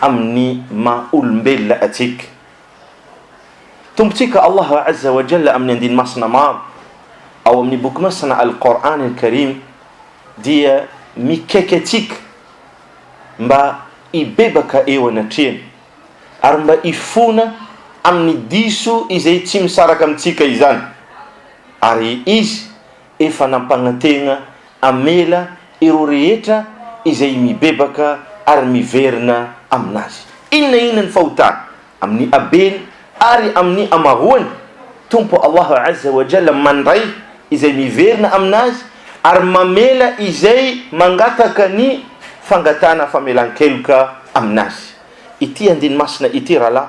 amin'ny maha olombelona antsika. Tompontsika Allah Azza wa Jalla amin'ny andiny masina maro ao amin'ny boky masina Al-Qour'an Al-Karim dia mikaiky antsika mba hibebaka eo anatrehany ary mba hifona amin'ny diso izay tsy misaraka amintsika izany ary Izy Efa nampanantena hamela ireo rehetra izay mibebaka ary miverina amin'Azy, inona inona ny fahotany, amin'ny habeny ary amin'ny hamaroany. Tompo Allah Azza wa Jalla mandray izay miverina amin'Azy ary mamela izay mangataka ny fangatahana famelan-keloka amin'Azy. Ity andiny masina ity, rahalahy,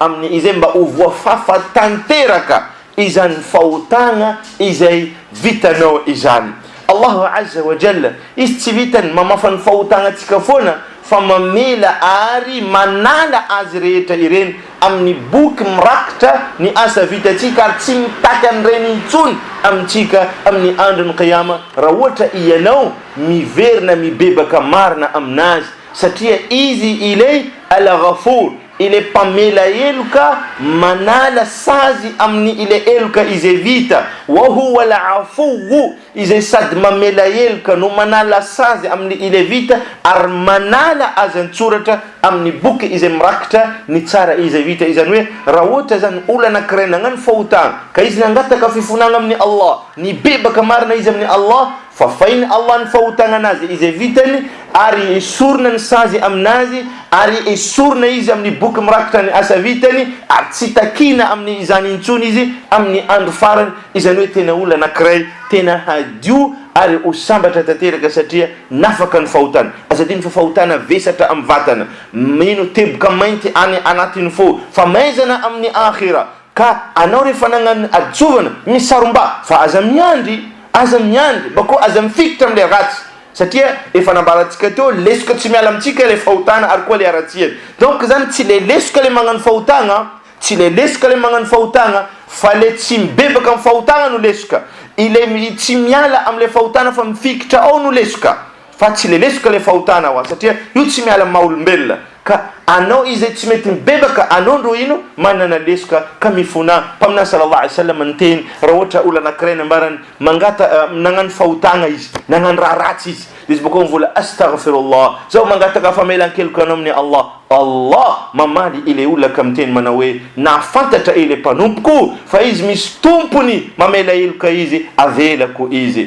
Amin' izay mba ho voafafa tanteraka izany fahotana izay vitanao izany. Allahu azza wa jalla, Izy tsy vitan'ny mamafa ny fahotanantsika foana fa mamela ary manala azy rehetra ireny amin'ny boky mirakitra ny asa vitantsika ary tsy mitaky an'ireny intsony amintsika amin'ny Andron'ny Qiyama raha ohatra ianao miverina mibebaka marina amin'Azy satria Izy ilay Al-Ghafour, Ilay mpamela heloka manala sazy amin'ny ilay heloka izay vita. Wa huwa al-'afuwwu, izay sady mamela heloka no manala sazy amin'ny ilay vita ary manala azy an-tsoratra amin'ny boky izay mirakitra ny tsara izay vita. Izany hoe raha ohatra izany olona anankiray nagnano fahotana ka izy nangataka fifonagna amin'i Allah, nibebaka marina izy amin'i Allah Fafain'i Allah ny fahotanan'azy izay vitany ary esorina ny sazy amin'azy ary esorina izy amin'ny boky mirakitra ny asa vitany ary tsy takiana amin'ny izany intsony izy amin'ny andro farany, izany hoe tena olona anankiray tena hadio ary ho sambatra tanteraka satria nafaka ny fahotany. Aza adino fa fahotana vesatra amin'ny vatana, mino teboka mainty any anatin'ny fo, famaizana amin'ny Akhira, Ka anao rehefa nagnano hadisoavana misaromba fa aza miandry, aza miandry mba koa aza mifikitra amin'ilay ratsy satria efa nambarantsika teo lesoka tsy miala amintsika ilay fahotana ary koa ilay haratsiany donc izany tsy ilay lesoka ilay magnano fahotagna, tsy ilay lesoka ilay magnano fahotagna fa ilay tsy mibebaka amin'ny fahotagna no lesoka, ilay tsy miala amin'ilay fahotana fa mifikitra ao no lesoka. Fa tsy lelesoka ilay fahotana hoa satria io tsy miala amin'ny maha olombelona ka anao izay tsy mety mibebaka anao ndro ino manana lesoka ka mifona mpaminany salallahu alaihi wasallam niteny raha ohatra olona anakiray nambarany mangata nagnano fahotagna izy nagnano raha ratsy izy dia izy bokao mivola astaghfirullah zaho mangataka famelankeloka anao amin'ny Allah Allah mamaly ilay olona ka miteny manao hoe nahafantatra ilay mpanompoko fa izy misy tompony mamela heloka izy avelako izy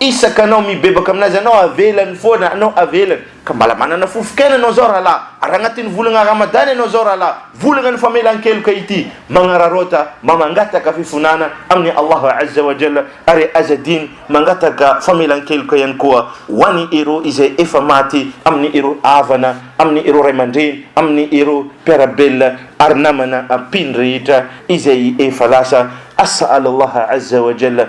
Isaka anao mibebaka aminazy anao avelany foana anao avelany ka mbala manana fofonkena anao zao rahalahy ary agnatin'ny volagna Ramadan anao zao rahalahy volagna ny famelankeloka ity magnararaota mba mangataka fifonana amin'i Allah azza wa jalla ary aza adino mangataka famelankeloka ihany koa ho any ireo izay efa maty amin'ny ireo havana amin'ny ireo ray aman-dreny amin'ny ireo mpiarabelona ary namana mpino rehetra izay efa lasa as'al Allah azza wa jalla